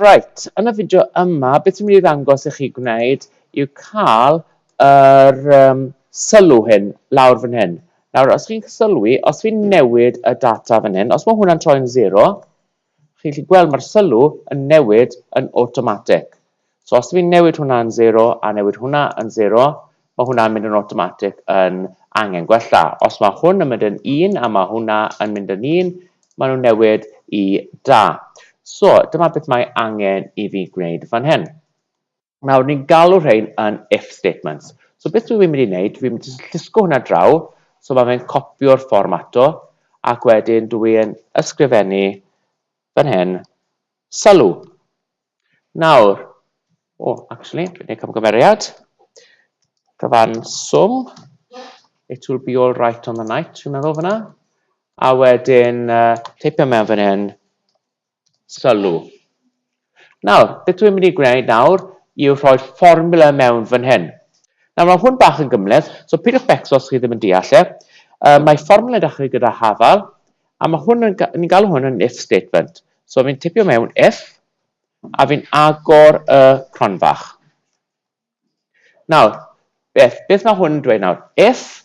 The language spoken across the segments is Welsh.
Right, yn y fideo yma, beth dwi'n mynd i ddangos i chi gwneud yw cael yr um, sylw hyn lawr fan hyn. Nawr, os chi'n sylwi, os fi'n newid y data fan hyn, os mae hwnna'n troi'n 0, Chi'n gallu gweld mae'r sylw yn newid yn awtomatig. So os fi'n newid hwnna yn 0 a newid hwnna yn 0, mae hwnna'n mynd yn awtomatig yn angen gwella. Os mae hwn yn mynd yn 1 a mae hwnna yn mynd yn 1, maen nhw'n newid i da. So dyma beth mae angen i fi gwneud fan hyn. Nawr, ni'n galw rhain yn if statements. So beth dwi'n mynd i wneud, dwi'n mynd i llusgo hwnna draw, so mae fe'n copio'r fform ato, ac wedyn dwi'n ysgrifennu fan hyn, sylw. Nawr, o, oh, actually, dwi'n gwneud camgymeriad, cyfan swm, it will be all right on the night, dwi'n meddwl fyna, a wedyn uh, teipio mewn fan hyn, sylw. Nawr, beth dwi'n mynd i gwneud nawr yw rhoi'r fformula mewn fan hyn. Nawr, mae hwn bach yn gymleth, so pidwch becso os chi ddim yn deall e. Uh, mae fformula dechrau gyda hafal, a mae hwn yn, ni'n galw hwn yn if statement. So fi'n tipio mewn if, a fi'n agor y cronfach. Nawr, beth, beth mae hwn yn dweud nawr? If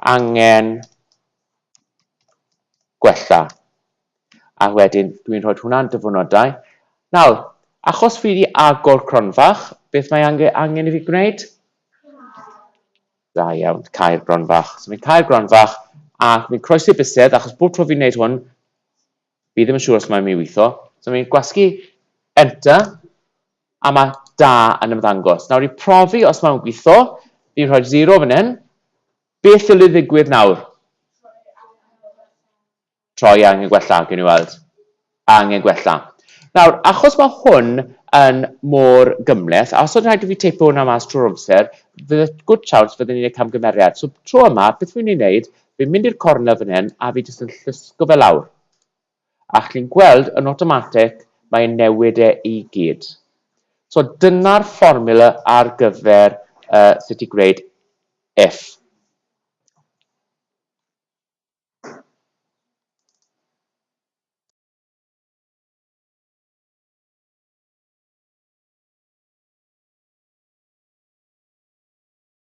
angen gwella. A wedyn dwi'n rhoi hwnna'n dyfynodau. Nawr, achos fi wedi agor cronfach, beth mae angen, angen i fi gwneud? Da iawn, cael gronfach. So fi'n cael gronfach a fi'n croesi bysedd achos bob tro fi'n gwneud hwn, Fi ddim yn siŵr os mae'n mynd i weithio. So fi'n gwasgu enter a mae da yn ymddangos. Nawr i profi os mae'n gweithio, fi'n rhoi zero fan hyn. Beth dylid ddigwydd nawr? Troi angen gwella, gen i weld. Angen gwella. Nawr, achos mae hwn yn mor gymleth, a os oedd rhaid i fi teipo hwnna mas trwy'r amser, fydd y good chance fydden ni'n ei camgymeriad. So tro yma, beth fi'n mynd i wneud, Fi'n mynd i'r cornel fan hyn a fi jyst yn llusgo fe lawr. A chi'n gweld yn awtomatig mae e'n newid e i gyd. So dyna'r fformula ar gyfer uh, sut i gwneud if.